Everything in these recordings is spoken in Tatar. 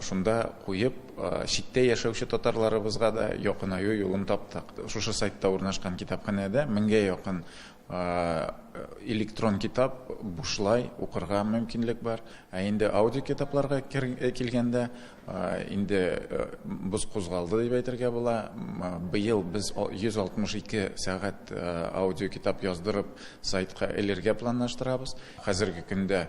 Шунда куеп, читтә яшәүче татарларыбызга да якынаю юлын таптык. Шушы сайтта урнашкан китапханәдә меңгә якын электрон китап бушлай укырга мөмкинлек бар. Ә инде аудиокитапларга килгәндә, инде боз кузгалды дип әйтергә була. Быел без 162 сәгать аудиокитап яздырып, сайтка элергә планлаштырабыз. Хәзерге көндә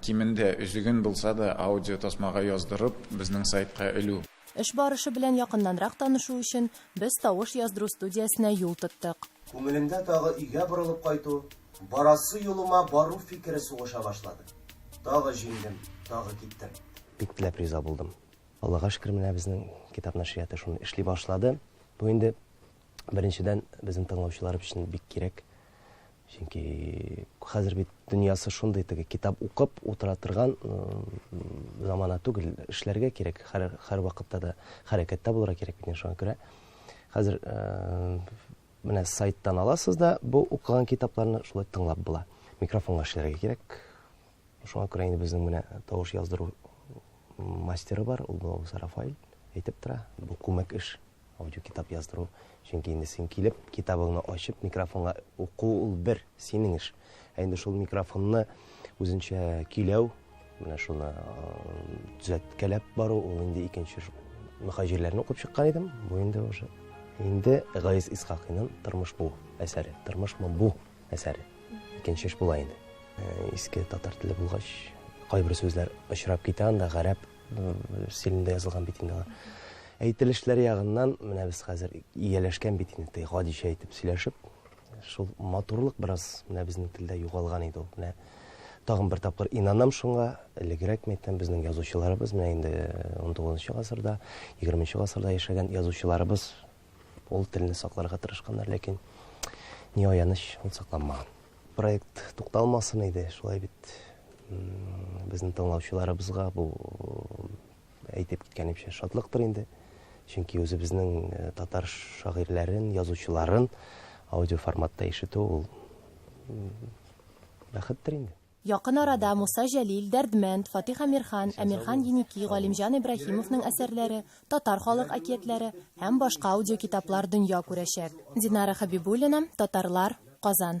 Кимендә өзеген булса да аудио тасмага яздырып, безнең сайтка элү. Эш барышы белән якыннанрак танышу өчен, без тавыш яздыру студиясенә юл тоттык. Күңелемдә тагы өйгә борылып кайту, барасы юлыма бару фикере сугыша башлады. Тагы җиңдем, тагы киттем. Бик теләп риза булдым. Аллага шөкер, менә безнең китап нәшрияты шуны эшли башлады. Бу инде, беренчедән, безнең тыңлаучылар өчен бик кирәк. Чөнки хәзер бит дөньясы шундый теге китап укып утыра торган замана түгел, эшләргә кирәк, һәр вакытта да хәрәкәттә булырга кирәк бит шуңа күрә. Хәзер менә сайттан аласыз да бу укыган китапларны шулай тыңлап була. Микрофонга эшләргә кирәк. Шуңа күрә инде безнең менә тавыш яздыру мастеры бар, ул Рафаэль әйтеп тора, бу күмәк эш. Аудиокитап яздыру. Чөнки инде син килеп, китабыңны ачып, микрофонга уку ул бер, синең эш. Ә инде шул микрофонны үзенчә көйләү, менә шуны төзәткәләп бару, ул инде икенче мөхаҗирләрне укып чыккан идем. Бу инде уже инде Гайс Исхакыйның Тормыш бу әсәре. Тормышмы бу әсәре? Икенче эш була инде. Иске татар теле булгач, кайбер сүзләр очрап китә анда, гарәп стилендә язылган бит инде алар. Әйтелешләр ягыннан менә без хәзер ияләшкән бит инде, гадичә әйтеп сөйләшеп. Шул матурлык бераз менә безнең телдә югалган иде ул. Менә тагын бер тапкыр инанам шуңа, элегрәк мәйтәм, безнең язучыларыбыз, менә инде 19 э, гасырда, 20 гасырда яшәгән язучыларыбыз Ул телне сакларга тырышканнар, ләкин ни аяныч, ул сакланмаган. Проект тукталмасын иде, шулай бит безнең тыңлаучыларыбызга бу әйтеп киткәнемчә шатлыктыр инде. Чөнки үзебезнең э, татар шагыйрьләрен, язучыларын аудиоформатта ишетү ул бәхеттер инде. Якын арада Муса Җәлил, Дәрдмәнд, Фатих Әмирхан, Әмирхан Еники, Галимҗан Ибраһимовның әсәрләре, татар халык әкиятләре һәм башка аудиокитаплар дөнья күрәчәк. Динара Хәбибуллина, Татарлар, Казан.